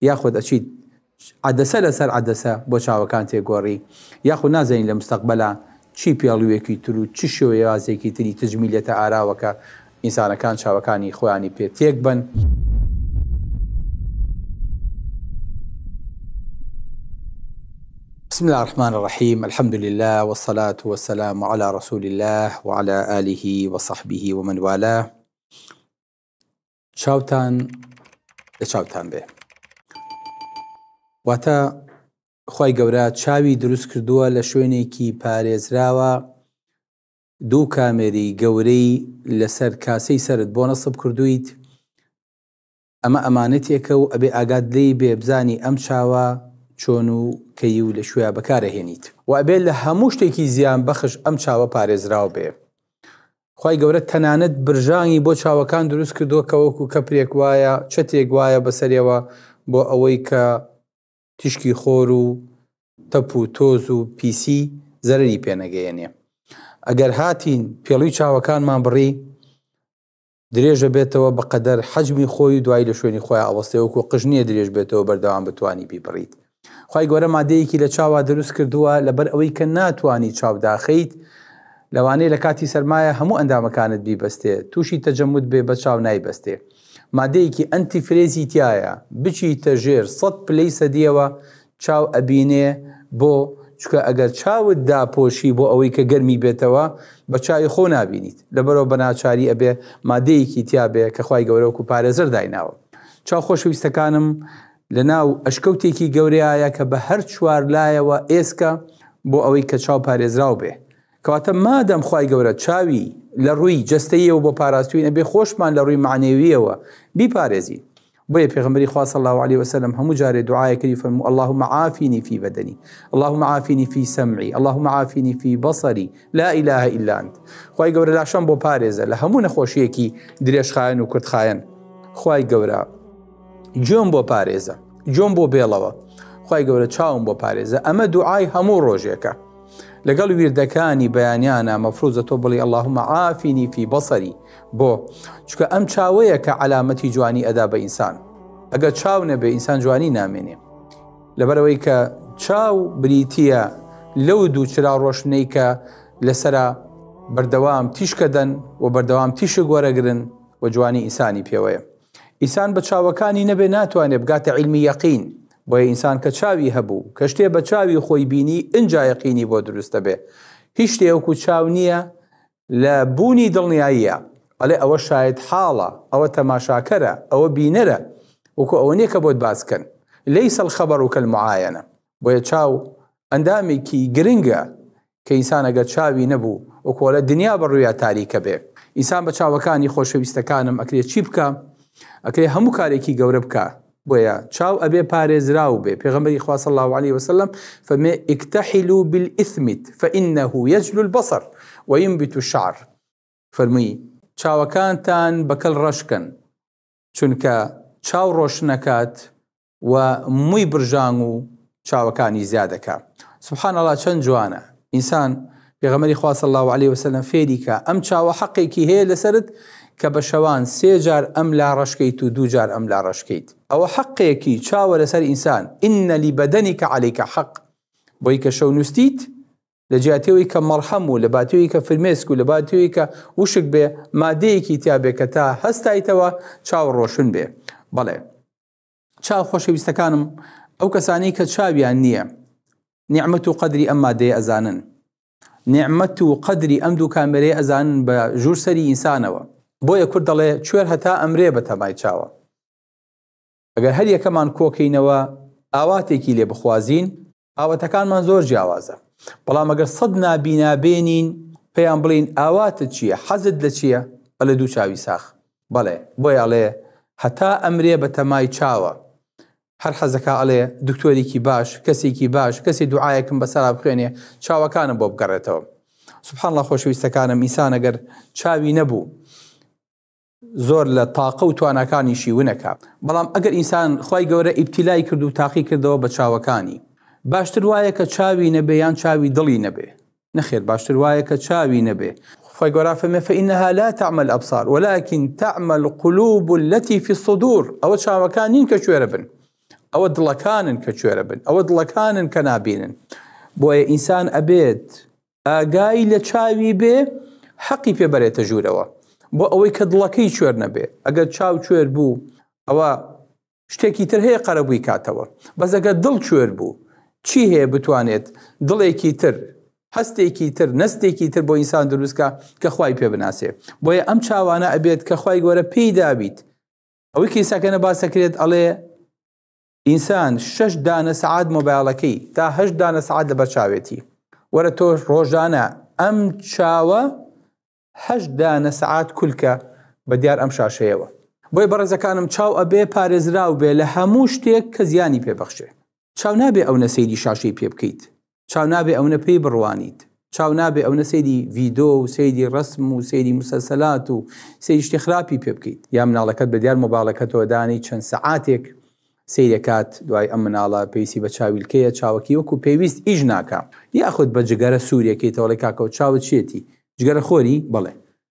یاخود ئەچیت عەدەسە لەسەر عەدەسە بۆ چاوەکان تێگۆڕی یاخود نازەنی لە مستەقبەلا چی پێڵوێکی تر و چ شێوەیازێکی تری تجمیل یەتە ئاراوە کە ئینسانەکان چاوەکانی خۆیانی پێ تێک بەن. بسم اللە الرحمن الرحیم الحمد للە والصلاة والسلام علی رسول اللە وعلی آله وصحبه ومن والاه چاوتان لە چاوتان بێ واتە خی گەورە چاوی دروست کردووە لە شوێنێکی پارێزراوە دوو کامێری گەورەی لەسەر کاسەی سرت بۆ نەسب کردویت ئەمە ئەمانەتێکە و ئەبێ ئاگات لی بێبزانی ئەم چاوە چۆن و کەی و لە شوێ بەکارەهێنیت و ئەبێت لە هەموو شتێکی زیان بەخش ئەم چاوە پارێزراو بێ خوای گەورە تەنانەت برژانگی بۆ چاوەکان دروست کردووە کە وەکو کەپرێک وایە چەترێک وایە بەسەریەوە بۆ ئەوەی کە تیشکی خۆر و تەپ و تۆز و پیسی زەرەری پێ نەگەیەنێ ئەگەر هاتین پێڵوی چاوەکانمان بڕی درێژە بێتەوە بەقەدەر حەجمی خۆی و دوای لە شوێنی خۆیان ئەوەستێ وەکو قژ نییە درێژ بێتەوە بەردەوام بتانی بیبڕیت خوای گەورە مادەیەکی لە چاوا دروست کردووە لەبەر ئەوەی کە ناتوانی چاو داخەیت لەوانەیە لە کاتی سەرمایە هەموو ئەندامەکانت بیبەستێ تووشی تەجەموت بێ بە چاو نایبەستێ مادەیەکی ئەنتی فرێزی تایە بچیتە ژێر سەد پلەی سەدیەوە چاو ئەبینێ بۆ چکە ئەگەر چاوت داپۆشی بۆ ئەوەی کە گەرمی بێتەوە بە چاوی خۆ نبینیت لەبەرەوە بەناچاری ئەبێ مادەیەکی تیاابێ کە خخوای گەورەوەکو پارێزەر دایناوە چاو خۆشەویستەکانم لە ناو ئەشکەوتێکی گەورەیایە کە بە هەر چوار لایەوە ئێسکە بۆ ئەوەی کە چاو پارێزراو بێ. کەواتە مادەم خوای گەورە چاوی لە ڕووی جەستەییەوە بۆ پاراستووین ئەبێ خۆشمان لە ڕووی مەعنەوییەوە بیپارێزین. بۆیە پێغەمبەری خوا صلی الله علیه وسلم هەموو جارێ دوعایە کردی فەرموو اللهم عافینی فی بدنی اللهم عافینی فی سمعی اللهم عافینی فی بصری لا اله الا انت خوای گەورە لاشەم بۆ پارێزە لە هەموو نەخۆشیەکی درێژخایەن و کورتخایەن خوای گەورە گوێم بۆ پارێزە گوێم بۆ بێڵەوە خی گەورە چاوم بۆ پارێزە ئەمە دوعای هەموو ڕۆژێکە لەگەڵ ویردەکانی بەیانیانە مەفروزە تۆ بڵی اللهمە ئافینی فی بەسەری بۆ چکە ئەم چاوەیە کە علامەتی جوانی ئەدا بە ئینسان ئەگەر چاو نەبێ ئینسان جوانی نامێنێ لەبەرەوەی کە چاو بریتە لەو دوو چرا ڕۆشنەی کە لەسرە بەردەوام تیشکەدەن و بەردەوام تیشک وەرەگرن و جوانی ئینسانی پێوەیە ئیسان بە چاوەکانی نەبێ ناتوانێ بگاتە عیلمی یەقین، بۆیە ئینسان کە چاوی هەبوو، کە شتێ بە چاوی خۆی بینی ئنجا یەقینی بۆ دروست دەبێ. هیچ شتێ وەکوو چاو نییە لە بوونی دڵنیاییە. ئەڵێ ئەوە شاید حاڵە، ئەوە تەماشاکەرە، ئەوە بینەرە، وەکوو ئەوە نییە کە بۆت باس کەن، لیس الخبر کالمعاینە. بۆیە چاو ئەندامێکی گرنگە کە ئینسان ئەگەر چاوی نەبوو وەکوەلە دنیا بە ڕوویا تاریکە بێ ئینسان بە چاوەکانی خۆشەویستەکانم ئەکرێ چی بکە ئەکرێ هەموو کارێکی گەورە بکە بۆیە چاو ئەبێ پارێزراو بێ پێغەمبەری خوا صلی الله علیه وسلم فەرمێ اکتحلوا بالاثم فانه یجل البصر وینبت الشعر فەرمووی چاوەکانتان بەکەل ڕەشکەن چونکە چاو ڕۆشنەکات و موی برژانگ و چاوەکانی زیا دەکا سبحان اللە چەن جوانە ئینسان پێغەمەری خوا صلی اللە علیه وسلم فێری کا ئەم چاوە حەقێکی هەیە لەسرت کە بە شەوان سێ جار ئەم لا ڕەشکەیت و دوو جار ئەم لا ڕەشکەیت ئەوە حەقێکی چاوە لەسەر ئینسان ئینە لبەدەنیکە عەلیکە حەق بۆی کە شەو نووسیت لە جیاتەوەی کە مەڕحەم و لە باتەوەی کە فرمێسک و لە باتەوەی کە وشک بێ مادەیەکی تیاابێ کە تا هەستایتەوە چاو ڕۆشن بێ بەڵێ چاو خۆشەویستەکانم ئەو کەسانەی کە چاویان نییە نیعممەت و قەدری ئەم مادەیە ئەزانن نیعممەت و قەدری ئەم دوو کامێرەیە ئەزانن بە ژوور سەری ئینسانەوە بۆیە کورد دەڵێ کوێر هەتا ئەمرێ بە تەمای چاوە ئەگەر هەر یەکەمان کۆکەینەوە ئاواتێکی لێ بخوازین ئاواتەکانمان زۆر جیاوازە بەڵام ئەگەر سەد نابینا بێنین پێیان بڵین ئاواتت چییە حەزت لە چییە ئەلێ دوو چاوی ساخ بەڵێ بۆی ئەڵێ هەتا ئەمرێ بە تەمای چاوە هەر حەزەکە ئەڵێ دکتۆرێکی باش کەسێکی باش کەسی دوعاەکم بەسەرا بخوێنێ چاوەکانم بۆ بگەڕێتەوە سبحان الله خۆشەویستەکانم ئینسانەگەر چاوی نەبوو زۆر لە تاقە و تواناکانیشی ونەکە بەڵام ئەگەر ئینسان خوای گەورە ئیبتیلای کرد و تاقی کردەوە بە چاوەکانی باشتر وایە کە چاوی نەبێ یان چاوی دڵی نەبێ نەخێر باشتر وایە کە چاوی نەبێ خوای گەورە فەرمێ فإنها لا تعمى الأبصار ولكن تعمى القلوب التي في الصدور ئەوە چاوەکان نین کە کوێرە بن ئەوە دڵەکانن کە کوێرە بن ئەوە دڵەکانن کە نابینن بۆیە ئینسان ئەبێت ئاگای لە چاوی بێ حەقی پێ بەرێتە ژوورەوە بۆ ئەوەی کە دڵەکەی کوێر نەبێ ئەگەر چاو کوێر بوو ئەوە شتێکی تر هەیە قەرەبووی کاتەوە بەزەگە دڵ کوێر بوو چی هەیە بتوانێت دڵێکی تر هەستێکی تر نستێکی تر بۆ ئینسان دروستکە کە خی پێ بناسێ بۆیە ئەم چاوانە ئەبێت کە خی گەورە پێی دابیت ئەوەی کەیساکەە باسەکرێت ئەڵێ ئینسان شەش دانە سەعات مۆبایڵەکەی تا هەشت دانە سەعات لەبەر چاوێتی وەرە تۆ ڕۆژانە ئەم چاوە هەشت دانە سەعات کولکە بە دیار ئەم شاشەیەوە بۆی بەڕێزەکانم چاو ئەبێ پارێزراو بێ لە هەموو شتێک کە زیانی پێبەخشێ چاو نابێ ئەو نەسەیری شاشەی پێ بکەیت چاو نابێ ئەونە پێی بڕوانیت چاو نابێ ئەونە سەیری ڤیدۆ و سەیری ڕسم و سەیری مسەسەلات و سەیری شتی خراپی پێ بکەیت یا مناڵەکەت بە دیار مۆباڵەکەتەوە دانی چەند سەعاتێک سەیرەکات دوای ئەم مناڵە پێویستی بە چاویلکەیە چاوەکی وەکو پێویست ئیش ناکە یاخود بە جگەرە سوورێکەی تەوەڵی کاکەەوە چاوت چێتی جگەرە خۆری بڵێ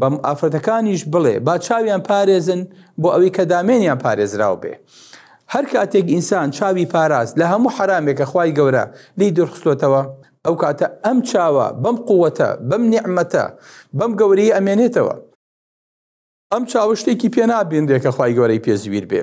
بە ئافرەتەکانیش بڵێ با چاویان پارێزن بۆ ئەوی کە دامێنیان پارێزراو بێ هەر کاتێک ئینسان چاوی پاراست لە هەموو حرامێکە خی گەورە لی دورخستوتەوە ئەو کاتە ئەم چاوە بەم قووەتە بەم نیعممەتە بەم گەورەی ئەمێنێتەوە ئەم چاوە شتێکی پێنابینرێکە خی گەورەی پێزویر بێ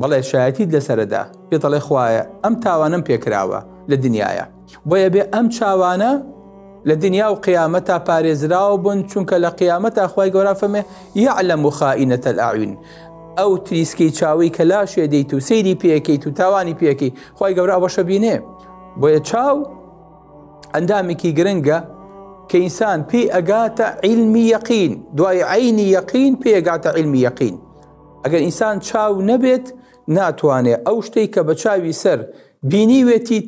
بەڵێ شایەتیت لەسەرەدا پێت دەڵێ خوایە ئەم تاوانەم پێکراوە لە دنیاە بۆیە بێ ئەم چاوانە لە دنیا و قیامەتا پارێزراوە بوون چونکە لە قیامەتا خی گەۆرا فەمێ یعلم و خائینەتە ئاوین ئەو تریسکەی چاوی کە لاشێ دەیت و سەیری پێەکەیت و تاوانی پێەکەی خی گەورە ئەوەشە بینێ بۆیە چاو ئەندامێکی گرنگە کە ئینسان پێی ئەگاتە عیلمی یەقین دوای عینی یەقین پێگاتە عیلمی یەقین ئەگەر ئینسان چاو نەبێت ناتوانێت ئەو شتەی کە بە چاوی سەر بینیوێتی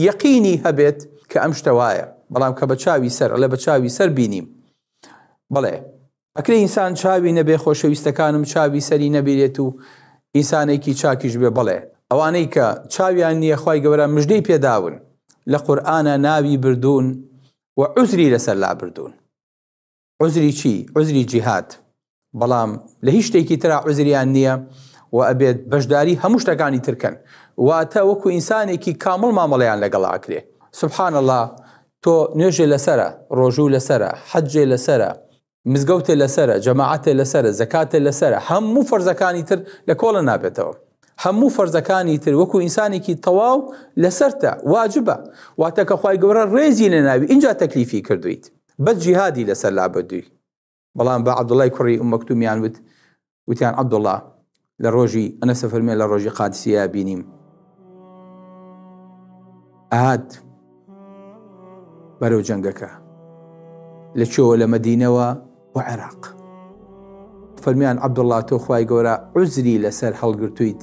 یەقینی هەبێت کە ئەم شتە وایە بەڵام کە بە چاوی سەر لە بە چاوی سەر بینیم بڵێ ئەکرێ ئینسان چاوی نەبێ خۆشەویستەکانم چاوی سەری نەبیرێت و ئینسانێکی چاکیش بێ بڵێ ئەوانەی کە چاویان نییە خی گەورە مژدەی پێداون لە قورآە ناوی بردوون و عزری لەسەر لابردوون عوزری چی؟ عوزری جیهاد. بەڵام لە هیچ شتێکی ترا عوزریان نییە و ئەبێت بەشداری هەموو شتەکانی ترکەن واتە وەکو ئینسانێکی کامڵ مامەڵەیان لەگەڵ ئاکرێ سبحان اللە تۆ نوێژێ لەسرە ڕۆژوو لەسرە حەجێ لەسرە مزگەوتێ لەسرە جەماعەتێ لەسرە زەکاتێ لەسرە هەموو فەرزەکانی تر لە کۆڵە نابێتەوە هەموو فەرزەکانی تر وەکو ئینسانێکی تەواو لەسەرتە واجبە واتە کە خی گەورە ڕێزی لە ناوی اینجا تەکلیفی کردویت بەس جیهادی لەسەر لابردووی. بەڵام بە عەبدوڵای کوڕی ئوم مەکتومیان وت وتیان عەبدوڵا لە ڕۆژی ئەنەس ئەفەرموێ لە ڕۆژی قادسیە بینیم ئەهات بەرەو جەنگەکە لە چۆوە لە مەدینەوە و عێراق فەرمیان عەبدوڵا تۆ خوای گەورە عزری لەسەر هەڵگرتویت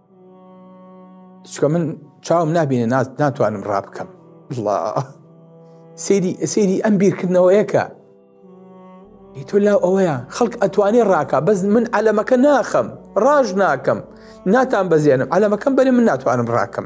چکە من چاوم نابینێ ناتوانم ڕا بکەم بڵا سری سری ئەم بیرکردنەوەیەکە تۆ لا ئەوەیە خەڵک ئەتوانێ ڕاکە بەس من ئەلەمەکە ناخەم ڕاژ ناکەم ناتان بەزیێنم ئەلەمەکەم بەرێ من ناتوانم ڕاکەم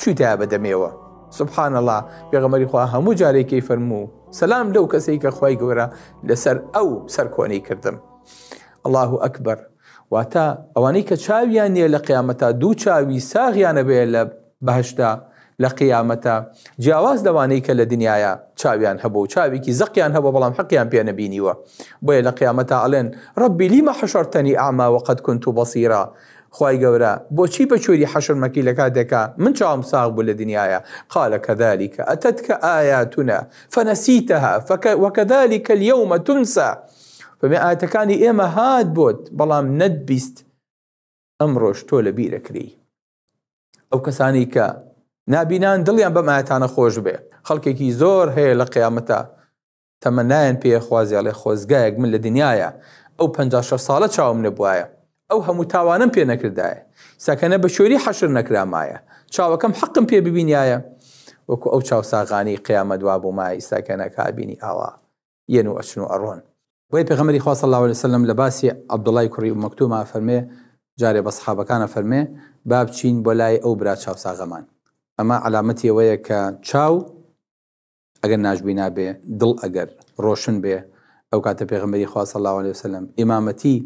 چویتایە بە دەمێوە سبحان الله پێغەمەری خوا هەموو جارێکی فەرموو سەسلام لەو کەسەی کە خی گەورە لەسەر ئەو سەرکۆنەی کردم الله و ئەکبەر واتە ئەوانەی کە چاویان نیە لە قیامەتا دوو چاوی ساغیانەبێ لە بەهشتا لە قیامەتە جیاواز لەوانەی کە لە دنیاە چاویان هەبوو چاوێکی زەقیان هەبوو بەڵام حەقیان پێ نەبینیوە بۆیە لە قیامەتا ئەڵێن ڕبی لیمە حشرتەنی ئاماوە قەت کونت و بەسیرا خوای گەورە بۆچی بە چۆری حەشر مەکی لە کاتێکا من چاوم ساغ بوو لە دنیایا قال کذلک اتتک آیاتنا فنسیتها فک وکذلک الیوم تنسی فەرمی ئایەتەکانی ئێمە هات بۆت بەڵام نەت بیست ئەمڕۆش تۆ لە بیرەکری ئەو کەسانی کە نابینان دڵیان بەم ئاەتانە خۆش بێ خەڵکێکی زۆر هەیە لە قیامەتە تەمەنایان پێیە خوازی ئەڵێ خۆزگایەک من لە دنیایا ئەو پەنجا شەش ساڵە چاوم نەبوایە ئەو هەموو تاوانەم پێ نەکردایە سەکەنە بە چۆری حەشر نەکرامایە چاوەکەم حەقم پێ ببینیایە وەکو ئەو چاو ساغانی قیامەت وابوومایە ئیستا کە نەکابینی ئاوا یەن و ئەچن و ئەڕۆن بۆیە پێغەمەری خوا صلی الله علیه وسلم لە باسی عبداللهی کوڕی مەکتومە فەرمێ جارێ بە سەحابەکانە فەرمێ با بچین بۆ لای ئەو برا چاوساغەمان ئەمە علامەتی ئەوەیە کە چاو ئەگەر ناشبینا بێ، دڵ ئەگەر ڕۆشن بێ، ئەو کاتە پێغەمبەری خوا صلی اللە علیە وسلم ئیمامەتی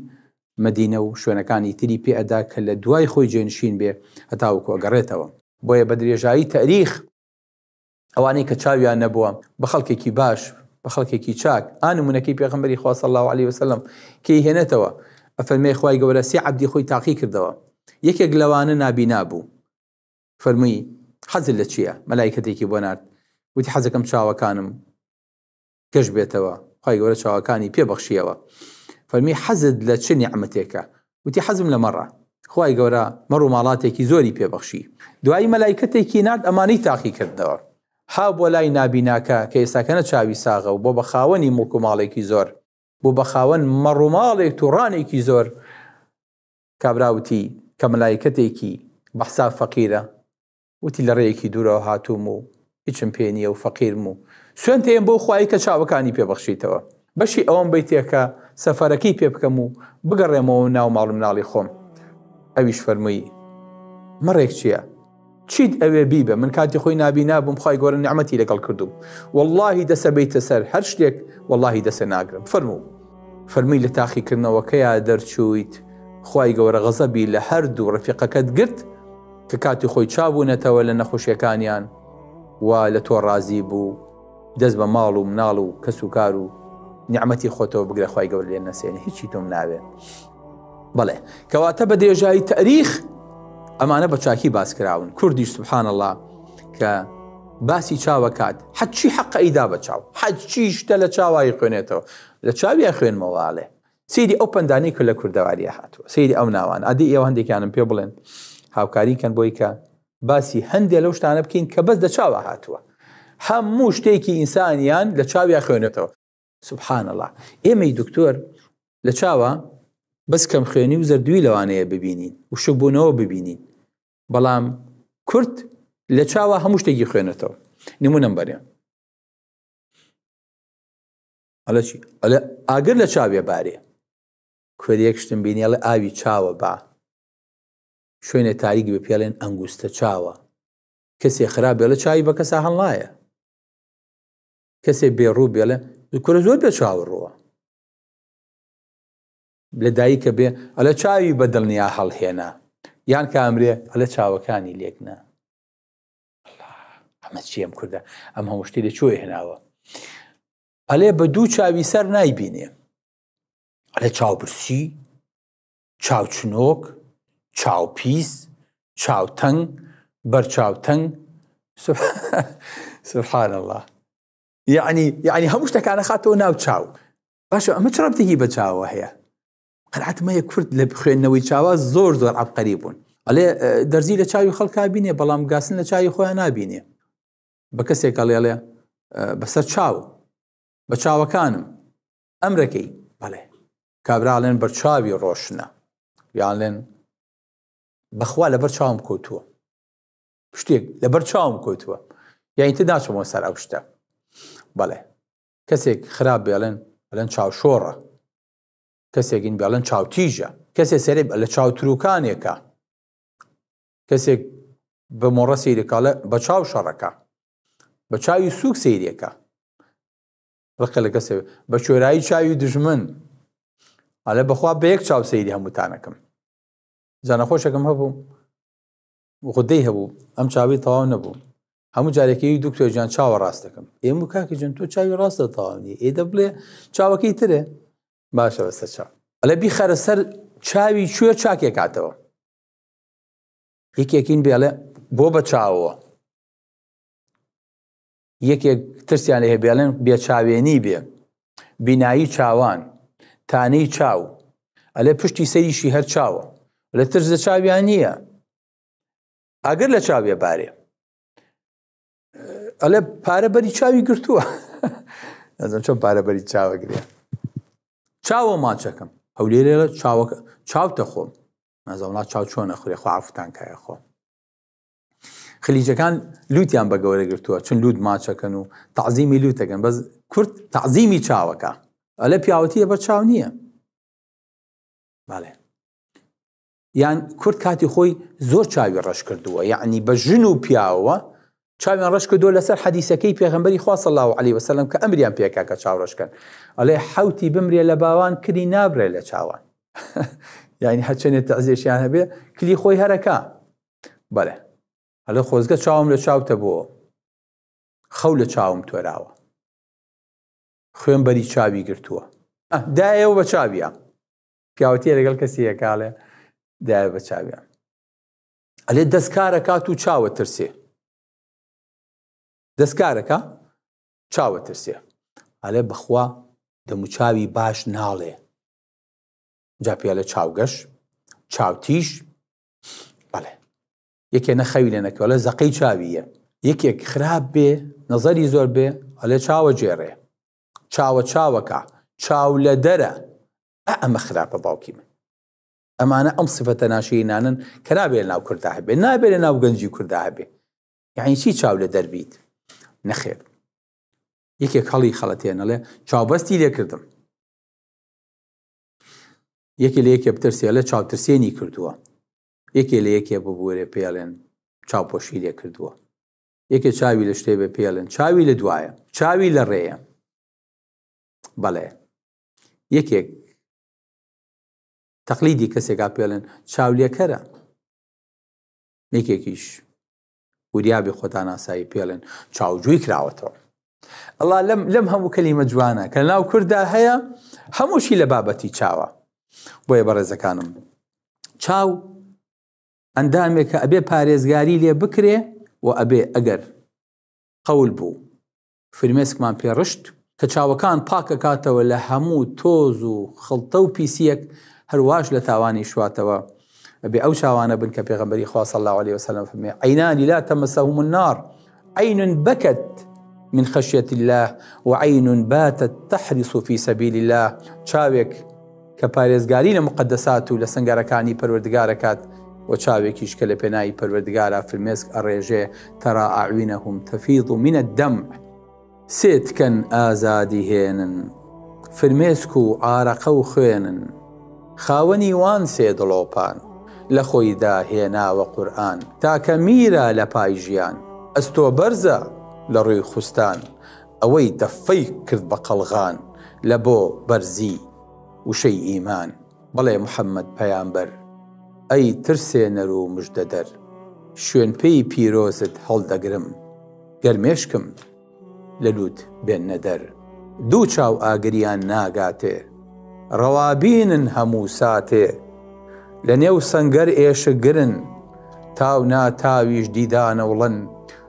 مەدینە و شوێنەکانی تری پێ ئەدا کە لە دوای خۆی جێنشین بێ هەتاوەکو ئەگەڕێتەوە. بۆیە بە درێژایی تاریخ ئەوانەی کە چاویان نەبووە بە خەڵکێکی باش، بە خەڵکێکی چاک، ئا نمونەکەی پێغەمبەری خوا صلی اللە علیە وسلم کە ئیهێنێتەوە، ئەفەرمێ خوای گەورە سێ عەبدی خۆی تاقی کردەوە، یەکێک لەوانە نابینا بوو، فەرمووی، حەزت لە چییە؟ مەلایکەتێکی بۆ نارد، وتی، حەزەکەم چاوەکانم گەش بێتەوە، خوای گەورە چاوەکانی پێ بەخشییەوە. فەرمووی، حەزت لە چ نیعمەتێکە؟ وتی، حەزم لە مەڕە، خوای گەورە مەڕ و ماڵاتێکی زۆری پێ بەخشی. دوایی مەلایکەتێکی نارد ئەمانەی تاقی کردەوە. ها بووە لای نابیناکە کە ئێستاکەنە چاوی ساغە و بۆ بە خاوەنی موڵک و ماڵێکی زۆر، بوو بە خاوەن مەڕ و ماڵێک و ڕانێکی زۆر. کابرا وتی، کە ملایکەتێکی بە حساب فەقیرە، وتی، لە ڕێیەکی دوورەوە هاتووم و هیچم پێ نییە و فەقیرم و سوێند دێم بەو خوایەی کە چاوەکانی پێ بەخشیتەوە، بەشی ئەوەم بەیتە کە سەفەرەکەی پێ بکەم و بگەڕێمەوە ناو ماڵومناڵی خۆم. ئەویش فەرمووی، مەڕێک چییە؟ چیت ئەوێ بیبە من کاتی خۆی نابینا بووم خی گەۆرە نعممەتی لەگەڵ کردوم واللهی دەسە بیتە سەر هەر شتێک واللهی دەسە ناگرم فەرموو فەرمی لە تاقیکردنەوەکەیا دەرچوویت خی گەورە غەزەبی لە هەردوو ڕفیقەکەت گرت کە کاتی خۆی چابوونەتەوە لە نەخۆشیەکانیان و لە تۆ ڕازی بوو دەست بە ماڵ و مناڵ و کەس و کار و نیعممەتی خۆتەوە بگرە خی گەور لێن نەسێنە هیچی تۆم ناوێ بڵێ کەواتە بە درێژایی تاریخ ئەمانە بە چاکی باس کراون کوردیش سبحان الله کە باسی چاوەکات حەچی حەق ئەیدا بە چاو حەچی شتە لە چاوایی خوێنێتەوە لە چاویە خوێنمەواڵێ سری ئەو پندانی کە لە کوردەواریە هاتووە سری ئەو ناوان ئەدی ئێوە هەندێکیانم پێ بڵێن هاوکاری کەن بۆی کە باسی هەندێ لەو شتانە بکەین کە بەس لە چاوا هاتووە هەموو شتێکی ئینسانیان لە چاویا خوێنێتەوە سبحان الله ئێمەی دکتۆر لە چاوە بەس کەم خوێنی و زەردووی لەوانەیە ببینین وشبوونەوە ببینین بەڵام کورت لە چاوە هەموو شتێکی خوێنێتەوە نمونم بەرێ ئاگر لە چاوێ بارێ کوێریەکشتم بینیڵە ئاوی چاوە با شوێنێ تاریک بێ پێڵێن ئەنگوستە چاوە کەسێ خراپ بێڵە چاوی بە کەسا هەڵنایە کەسێ بێڕوو بێڵێ کورە زۆر پێ چاوە ڕووە لە دایکە بێ ئەلە چاوی بە دڵنیا هەڵهێنا یان کامرێ ئەلە چاوەکانی لێکنە ئەمە چیم کوردە ئەم هەمشتی لە چۆی هێناوە ئەلێ بە دوو چاوی سەر نایبینێ ئەلە چاوبرسی چاوچنۆک، چاوپیس، چاوتەنگ، بەرچاوتەنگ، سبحان اللە یعنی یعنی هەموو شتەکانە خاتەوە ناو چاو باشە ئەمە چ ڕەبتێکی بە چاوە هەیە قەنعاتمەیە کورد لە بخوێندنەوەی چاوە زۆر زۆر عبقەری بوون ئەلێ دەرزی لە چاوی خەڵکا بینێ بەڵام گاسن لە چاوی خۆیان نابینێ بە کەسێکە لێڵێ بەسەر چاو بە چاوەکانم ئەمرەکەی بەڵێ کابراڵێن بەرچاوی ڕۆشنە یاڵێن بەخوا لەبەر چاوم کەوتووە شتێک لەبەر چاوم کەوتووە یاین تە ناچمەوە سەر ئەو شتە بەڵێ کەسێک خراپ بێڵێن بەلەن چاوشۆڕە کەسێکین بەڵەن چاوتیژە کەسێ سەرێ لە چاوتروکانێکە کەسێک بە مۆڕە سیرکاڵە بە چاو شەڕەکە بە چاوی سوک سیرێکە ڕقە لە کەسێ بە چۆرایی چاوی دژمن ئەلە بەخوا بە یەک چاو سەیری هەمووتانەکەم جانەخۆشەکەم هەبوو غدەی هەبوو ئەم چاوی تەواو نەبوو هەموو جارێکی دکتۆر جان چاوە ڕاستەکەم ئێم و کاکی جن تۆ چاوی ڕاستە تاوانی ئێدە بڵێ چاوەکەی ترێ باشە بەسە چاو ئەلە بیخەرە سەر چاوی کوێ چاکێک کاتەوە یەکێکین بێڵێ بۆ بە چاوەوە یەکێک ترسیان لێ هەیە بێڵێن بێچاوێنی بێ بینایی چاوان تانەی چاو ئەلێ پشتی سەریشی هەر چاوە لە ترس لە چاویان نییە ئەگەر لە چاوێ بارێ ئەلێ پارەبەری چاوی گرتووە ئەزم چۆن پارەبەری چاوەگرێ چاوە ماچەکەم ئەو لێرێ چاوەکە چاوتە خۆم نازەڵنا چاو چۆنە خوێ خوافتان کایە خۆم خلیجەکان لوتیان بە گەورە گرتووە چون لوت ماچەکەن و تعزیمی لوتەکەن بەس کورد تعزیمی چاوەکە ئەلە پیاوەتیە بە چاو نییە بەڵێ یان کورد کاتی خۆی زۆر چاوی ڕەش کردووە یعنی بە ژن و پیاوە چاویان ڕشکە دۆ لەسەر حەدیسەکەی پێغمبەری خواص الله و علی وسلم کە ئەمریان پێکا کە چاوڕشکن ئەڵێ حوتی بمرێ لە باوان کلی نابرێ لە چاوان یعنی هەچەنێت تەزیێشیان هەبێ کلی خۆی هەرەکە بەڵێ ئەڵێ خۆزگە چاوم لە چاوتە بۆ خەو لە چاوم تۆراوە خوێن بەری چاوی گرتووە دایەوە بە چاویە پیاوەتیە لەگەڵ کەسی یەکاڵێ دایە بە چاویە ئەلێ دەستکارە کات و چاوە ترسێ دەستکارەکە چاوە ترسێ ئەلێ بخوا دەموچاوی باش ناڵێ جا پێ لە چاوگەش چاوتیش بەڵێ یەکێ نەخەوی لێ نەکەڵێ زەقەی چاویە یەکێک خراپ بێ نەزەری زۆر بێ ئەلێ چاوە جێڕێ چاوە چاوەکە چاو لە دەرە ئەمە خراپە باوکی من ئەمانە ئەم سفەتە ناشینانن کە نابێت ناو کوردا هەبێ نابێت ناو گەنجی کوردا هەبێ یعنی چی چاو لە دەربیت نەخێر یەکێک هەڵی خەڵەتێنەڵێ چاوبەستی لێکردم یەکێ لە یەکێ بترسێ ئەلێ چاوترسێنی کردووە، یەکێ لە یەکێ ببوورێ پێی ئەلێن چاوپۆشی لێ کردووە، یەکێ چاوی لە شتێ بێ پێی ئەلێن چاوی لە دوایە، چاوی لە ڕێیە. بەڵێ یەکێک تەقلیدی کەسێکا پێڵێن چاولێکەرە یەکێکیش وریابی خۆتان ئاسایی پێڵێن چاوجوی کراوەتەوە ئەڵا لەم لەم هەموو کەلیمە جوانە کە ناو کووردا هەیە هەمووشی لە بابەتی چاوە بۆیە بەڕێزەکانم چاو ئەندامێکە ئەبێ پارێزگاری لێ بکرێ و ئەبێ ئەگەر قەول بوو فرمێسکمان پێ ڕشت کە چاوەکان پاک ئەکاتەوە لە هەموو تۆز و خڵتە و پیسییەک هەرواش لە تاوانی شواتەوە ئەبێ ئەو چاوانە بن کە پێغەمبەری خوا صلی الله علیه وسلم فەرمێ عینانی لا تمسهم النار عین بکت من خشیت الله وعین باتت تحرس فی سبیل الله چاوێک کە پارێزگاری لە موقەدەسات و لە سەنگەرەکانی پەروەردگار ئەکات، وە چاوێکیش کە لە پێناوی پەروەردگارا فرمێسک ئەڕێژێ، تەڕا ئەعوینەهوم تەفیض من الدمع، سێ تکەن ئازادی هێنن، فرمێسک و عارەقە و خوێنن، خاوەنی وان سێ دڵۆپان، لە خۆیدا هێناوە قورئان، تاکە میرە لە پای ژیان، ئەستۆ بەرزە لە ڕووی خوستان، ئەوەی دەفەی کرد بە قەڵغان لە بۆ بەرزی وشەی ئیمان، بەڵێ محەممەد پەیامبەر، ئەی ترسێنەر و مژدەدەر، شوێنپێی پیرۆزت هەڵدەگرم، گەر مێشکم لە لووت بێننە دەر. دوو چاو ئاگریان ناگاتێ، ڕەوابینن هەموو ساتێ، لە نێو سەنگەر ئێشکگرن، تاو نا تاویش دیدانەوڵن،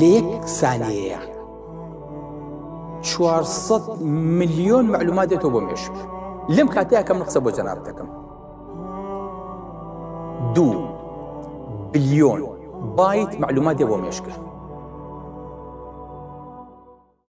لێک سانەیە 400 میلیۆن معلومات دێتەوە بۆ مێشک لەم کاتەیە کەم قسە بۆ جەناب دەکەم دوو بلیۆن بایت معلومات دێ بۆ مێشکە